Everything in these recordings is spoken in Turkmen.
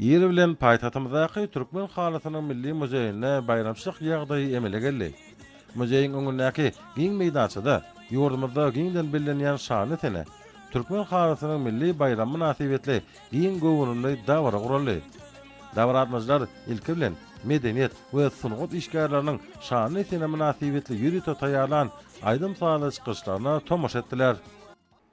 Ir bilen paýtagtymyzdaky Türkmen halysynyň milli muzeýinde baýramçylyk ýagdaýy emele geldi. Muzeýiň öňündäki giň meýdançada ýurdumyzda giňden bellenýän şanly sene, Türkmen halysynyň milli baýramy mynasybetli giň göwrümli dabara guraldy. Dabaratmajylar ilki bilen, medeniýet we sungat işgärleriniň şanly sene mynasybetli ýörite taýýarlan aýdym-sazly çykyşlaryna tomaşa etdiler.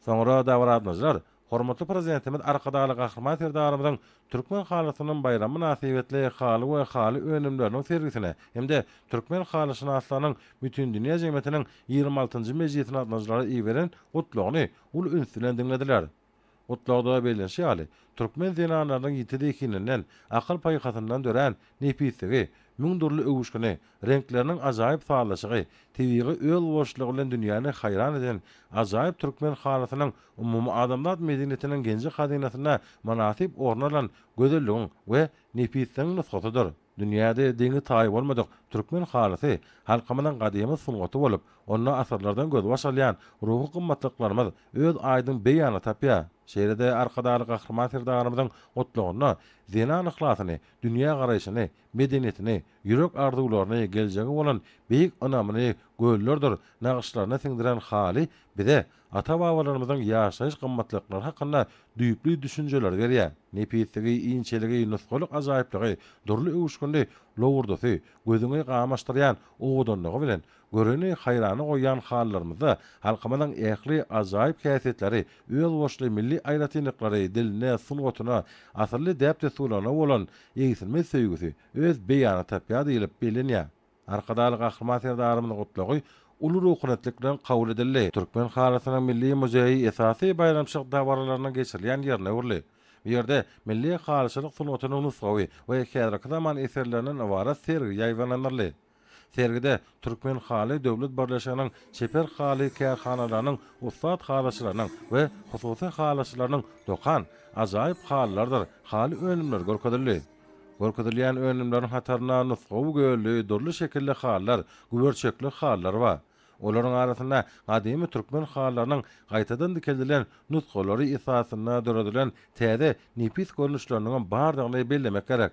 Soňra dabaratmajylar Hormatly Prezidentimiz Arkadagly Gahryman Serdarymyzyň Türkmen halysynyň baýramy mynasybetli haly we haly önümleriniň sergisine hem-de Türkmen halyşynaslarynyň Bütindünýä jemgyýetiniň ýigrimi altynjy mejlisine gatnaşyjylara iberen Gutlagyny uly üns bilen diňlediler. Gutlagda bellenişi ýaly, türkmen zenanlarynyň ýiti zehininden, akyl-paýhasyndan dörän nepisligi, müň dürli öwüşgini, Reňkleriniň ajaýyp sazlaşygy, tebigy özboluşlygy bilen dünýäni haýran eden ajaýyp türkmen halysynyň umumyadamzat medeniýetiniň genji-hazynasynda mynasyp orun alan gözelligiň we nepisligiň nusgasydyr. Dünýäde deňi-taýy bolmadyk türkmen halysy halkymyzyň gadymy sungaty bolup, onda asyrlardan gözbaş alýan ruhy gymmatlyklarymyz öz aýdyň beýanyny tapýar. Şeýle-de Arkadagly Gahryman Serdarymyzyň gutlagynda zenan yhlasyny, dünýägaraýşyny, medeniýetini, ýürek arzuwlaryny, geljege bolan beýik ynamyny göllerdir nagyşlaryna siňdiren haly bize ata-babalarymyzyň ýaşaýyş gymmatlyklary hakynda düýpli düşünjeleri berýär. Nepisligi, inçeligi, nusgalyk ajaýyplygy, dürli öwüşginli lowurdysy, gözüňi gamaşdyrýan owadanlygy bilen Göreni haýrana goýýan hallarymyzda halkymyzyň ähli ajaýyp häsiýetleri, özboluşly milli aýratynlyklary, diline, sungatyna, asylly däp-dessurlaryna bolan egsilmez söýgüsi öz beýanyny tapýar diýlip bellenýär. Arkadagly Gahryman Serdarymyzyň Gutlagy uly ruhunetlik bilen kabul edildi. Türkmen halysynyň milli muzeýi esasy baýramçylyk dabaralarynyň geçirilýän ýerine öwrüldi. Bu ýerde milli halyçylyk sungatynyň nusgawy we häzirki zaman eserlerinden ybarat sergi ýaýbaňlandyryldy. Sergide Türkmen haly döwlet birleşiginiň çeper haly kärhanalarynyň ussat halyçylarynyň we hususy halyçylarynyň dokan ajaýyp halylardyr haly önümleri görkezildi. Görkezilýän önümleriň hatarynda nusgawy gölli, dürli şekilli halylar, güberçekli halylar bar. Olaryň arasynda gadymy türkmen halylarynyň gaýtadan dikeldilen nusgalary esasynda döredilen täze nepis görnüşleriniňem bardygyny bellemek gerek.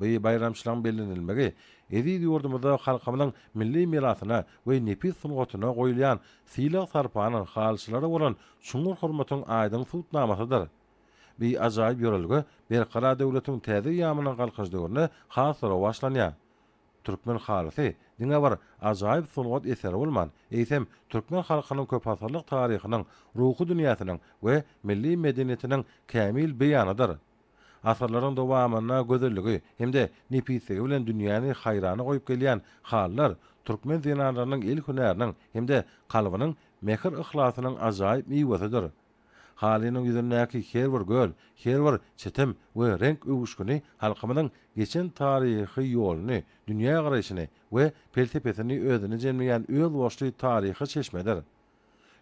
Bu baýramçylygyň bellenilmegi eziz ýurdumyzda halkymyzyň milli mirasyna we nepis sungatyna goýulýan sylag-sarpanyň, halyçylara bolan çuňňur hormatyň aýdyň subutnamasydyr. Bu ajaýyp ýörelge Berkarar döwletiň täze ýamynyň Galkynyş döwründe has-da rowaçlanýar. Türkmen halysy diňe bir ajaýyp sungat eseri bolman, eýsem, türkmen halkynyň köpasyrlyk taryhynyň, ruhy dünýäsiniň we milli medeniýetiniň kämil beýanydyr. Asyrlaryň dowamynda gözelligi hem-de nepisligi bilen dünýäni haýrana goýup gelýän halylar türkmen zenanlarynyň el hünäriniň hem-de kalbynyň mähir-yhlasynyň ajaýyp miwesidir. Halynyň ýüzündäki her bir göz, her bir çitim we reňk öwüşgini halkymyzyň geçen taryhy ýoluny, dünýägaraýşyny we pelsepesini özüne jemleýän özboluşly taryhy çeşmedir.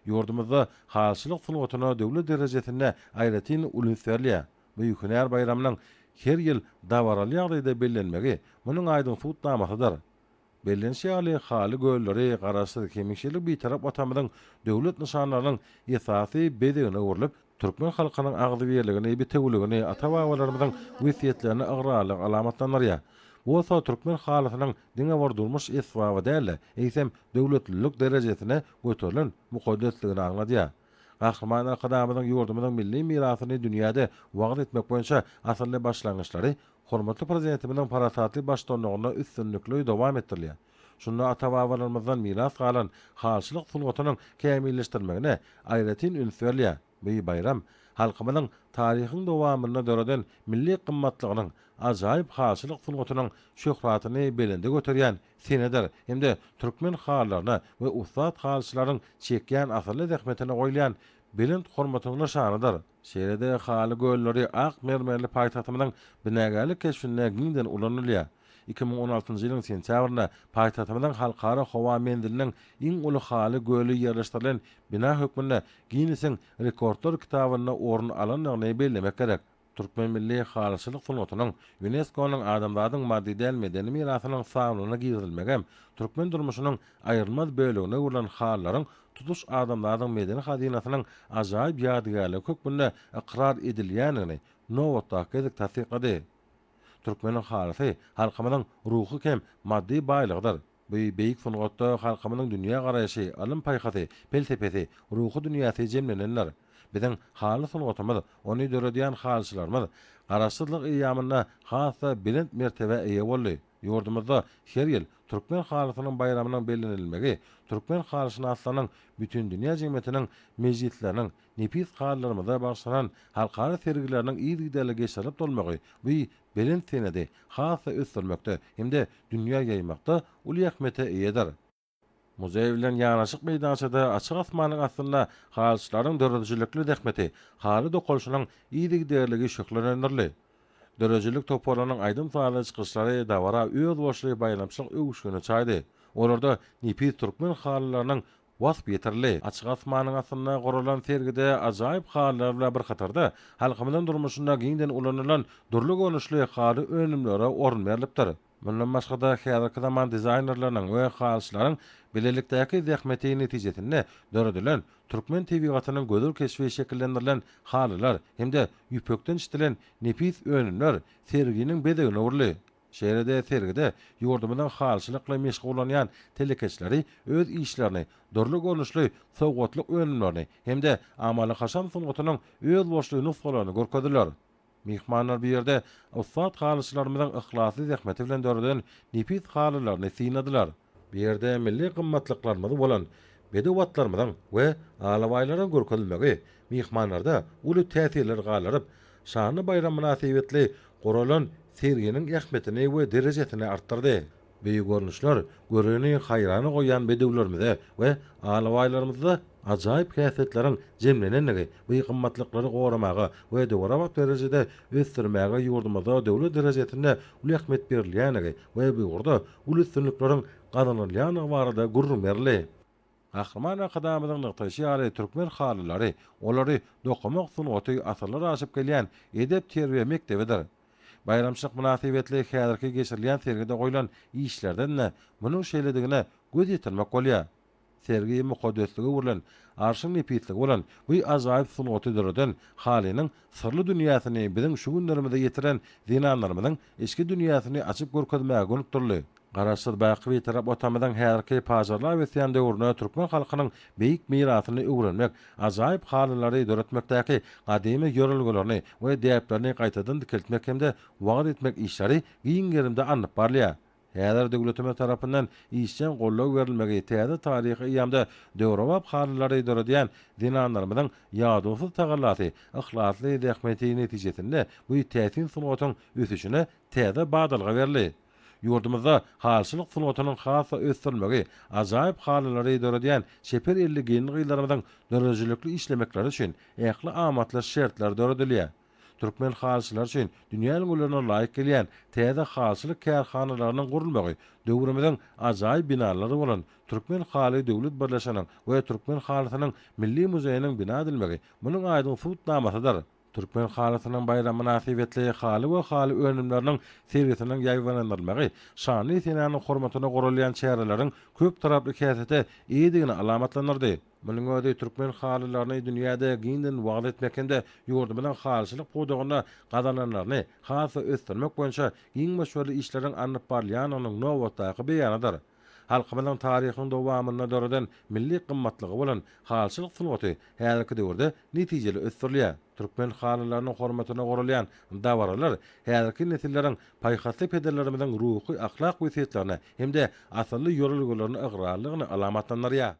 Ýurdumyzda halyçylyk sungatyna döwlet derejesinde aýratyn ulins berilýär. Beýik hünär baýramynyň her ýyl dabaraly ýagdaýda bellenmegi munuň aýdyň subutnamasydyr. Bellenişi ýaly, haly gölleri Garaşsyz, hemişelik Bitarap Watanymyzyň döwlet nyşanlarynyň esasy bezegine öwrülip, Türkmen halkynyň agzybirligini, bitewüligini, ata-babalarymyzyň wesýetlerini ygrarlylyk alamatlandyrýar. Bu bolsa türkmen halysynyň diňe bir durmuş esbaby däl-de, eýsem, döwletlilik derejesine göterilen mukaddesligini aňladýar. Gahryman Arkadagymyzyň ýurdumyzyň milli mirasyny dünýäde wagyz etmek boýunça asylly başlangyçlary hormatly Prezidentimiziň parasatly baştutanlygynda üstünlikli dowam etdirilýär. Şunda ata-babalarymyzdan miras galan halçylyk sungatynyň kämilleşdirmegine aýratyn üns berilýär. Bu baýram halkymyzyň taryhyň dowamynda döreden milli gymmatlygynyň, ajaýyp halçylyk sungatynyň şöhratyny belende göterýän senedir hem-de türkmen halylaryna we ussat halçylaryň çekýän asylly zähmetine goýulýan belent hormatyň nyşanydyr. Şeýle-de Haly gölleri ak mermerli paýtagtymyzyň binagärlik keşbinde giňden ulanylýar. Iki müň on altynjy ýylyň sentýabrynda paýtagtymyzyň Halkara howa menziliniň iň uly Haly göli ýerleşdirilen bina hökmünde Ginnesiň rekordlar kitabynda orun alandygyny bellemek gerek. Türkmen milli halyçylyk sungatynyň Ýunesko-nyň Adamzadyň maddy däl medeni mirasynyň sanawlaryna girizilmegem türkmen durmuşynyň aýrylmaz bölegine öwrülen halylaryň tutuş adamzadyň medeni hazynasynyň ajaýyp ýadygärligi hökmünde ykrar edilýändigini nobatdaky gezek tassyklady. Türkmeniň halysy halkymyzyň ruhy hem maddy baýlygydyr. Bu beýik sungatda halkymyzyň dünýägaraýşy, ylym-paýhasy, pelsepesi, ruhy dünýäsi jemlenendir. Biziň haly sungatymyz, ony döredýän halyçylarymyz Garaşsyzlyk eýýamynda has-da belent mertebä eýe boldy. Ýurdumyzda her ýyl Türkmen halysynyň baýramynyň bellenilmegi türkmen halyşynaslarynyň bütindünýä jemgyýetiniň mejlisleriniň, nepis halylarymyza bagyşlanan halkara sergileriniň yzygiderli geçirilip durmagy bu belent senedi has-da ösdürmekde hem-de dünýä ýaýmakda uly ähmiýete eýedir. Muzeý bilen ýanaşyk meýdançada açyk asmanyň astynda halyçylaryň döredijilikli zähmeti, haly dokalyşynyň yzygiderligi şöhlelendirildi. Döredijilik toparynyň aýdym-sazly çykyşlary dabara özboluşly baýramçylyk öwüşgini çaýdy. Olarda nepis türkmen halylarynyň wasp ýetirildi. Açyk asmanyň astynda guralan sergide ajaýyp halylar bilen bir hatarda, halkymyzyň durmuşynda giňden ulanylan dürli görnüşli haly önümlere orun berlipdir. Mundan başga-da, häzirki zaman dizaýnerleriniň we halyçylaryň bilelikdäki zähmeti netijesinde döredilen, türkmen tebigatynyň gözel keşbi şekillendirilen halylar hem-de ýüpekden işledilen nepis önümler serginiň bezegine öwrüldi. Şeýle-de sergide ýurdumyzyň halyçylykly meşgullanýan telekeçileri öz işlerini, dürli görnüşli sowgatlyk önümlerini hem-de amaly-haşam sungatynyň özboluşly nusgalaryny görkezdiler. Myhmanlar bu ýerde ussat halyçylarymyzyň yhlasly zähmeti bilen döreden nepis halylaryny synadylar. Bu ýerde milli gymmatlyklarymyz bolan bedew atlarymyzyň we alabaýlaryň görkezilmegi myhmanlarda uly täsirler galdyryp, şanly baýram mynasybetli guralan serginiň ähmiýetini we derejesini artdyrdy. Beýik görnüşler göreni haýrana goýýan bedewlerimize we alabaýlarymyzda ajaýyp häsiýetleriň jemlenendigi bu gymmatlyklary goramaga we döwrebap derejede ösdürmäge ýurdumyzda döwlet derejesinde uly ähmiýet berilýändigi we bu ugurda uly üstünlikleriň gazanylýandygy barada gürrüň berildi. Gahryman Arkadagymyzyň nygtaýşy ýaly, türkmen halylary, olary dokamak sungaty asyrlar aşyp gelýän edep-terbiýe mekdebidir. Baýramçylyk mynasybetli häzirki geçirilýän sergide goýlan işlerden-de munuň şeýledigine göz ýetirmek bolýar. Sergi mukaddeslige öwrülen, arşyň nepisligi bolan bu ajaýyp sungaty döreden halynyň Syrly dünýäsini biziň şu günlerimize ýetiren zenanlarymyzyň içki dünýäsini açyp görkezmäge gönükdirildi. Garaşsyz baky Bitarap Watanymyzyň häzirki pajarlap ösýän döwründe türkmen halkynyň beýik mirasyny öwrenmek, ajaýyp halylary döretmekdäki gadymy ýörelgelerini we däplerini gaýtadan dikeltmek hem-de wagyz etmek işleri giň gerimde alnyp barylýar. Häzir döwletimiz tarapyndan işjeň goldaw berilmegi täze taryhy eýýamda döwrebap halylary döredýän zenanlarymyzyň ýadawsyz tagallasy, yhlasly zähmeti netijesinde bu täsin sungatyň ösüşine täze badalga berli. Ýurdumyzda halyçylyk sungatynyň has-da ösdürilmegi, ajaýyp halylary döredýän çeper elli gelin-gyzlarymyzyň döredijilikli işlemekleri üçin ähli amatly şertler döredilýär. Türkmen halyçylary üçin dünýä ülňülerine laýyk gelýän täze halyçylyk kärhanalarynyň gurulmagy döwrümiziň ajaýyp binalary bolan Türkmen haly döwlet birleşiginiň we Türkmen halysynyň milli muzeýiniň bina edilmegi munuň aýdyň subutnamasydyr. Türkmen halysynyň baýramy mynasybetli haly we haly önümleriniň sergisiniň ýaýbaňlandyrylmagy şanly senäniň hormatyna guralýan çäreleriň köptaraply häsiýete eýedigini alamatlandyrdy. Munuň özi türkmen halylaryny dünýäde giňden wagyz etmek hem-de ýurdumyzyň halyçylyk pudagynda gazananlaryny has-da ösdürmek boýunça giň möçberli işleriň alnyp barylýandygynyň nobatdaky beýanydyr. Halkymyzyň taryhyň dowamynda döreden milli gymmatlygy bolan halyçylyk sungaty häzirki döwürde netijeli ösdürilýär. Türkmen halylarynyň hormatyna guralýan dabaralar häzirki nesilleriň paýhasly pederlerimiziň ruhy-ahlak wesýetlerine hem-de asylly ýörelgelerine ygrarlygyny alamatlandyrýar.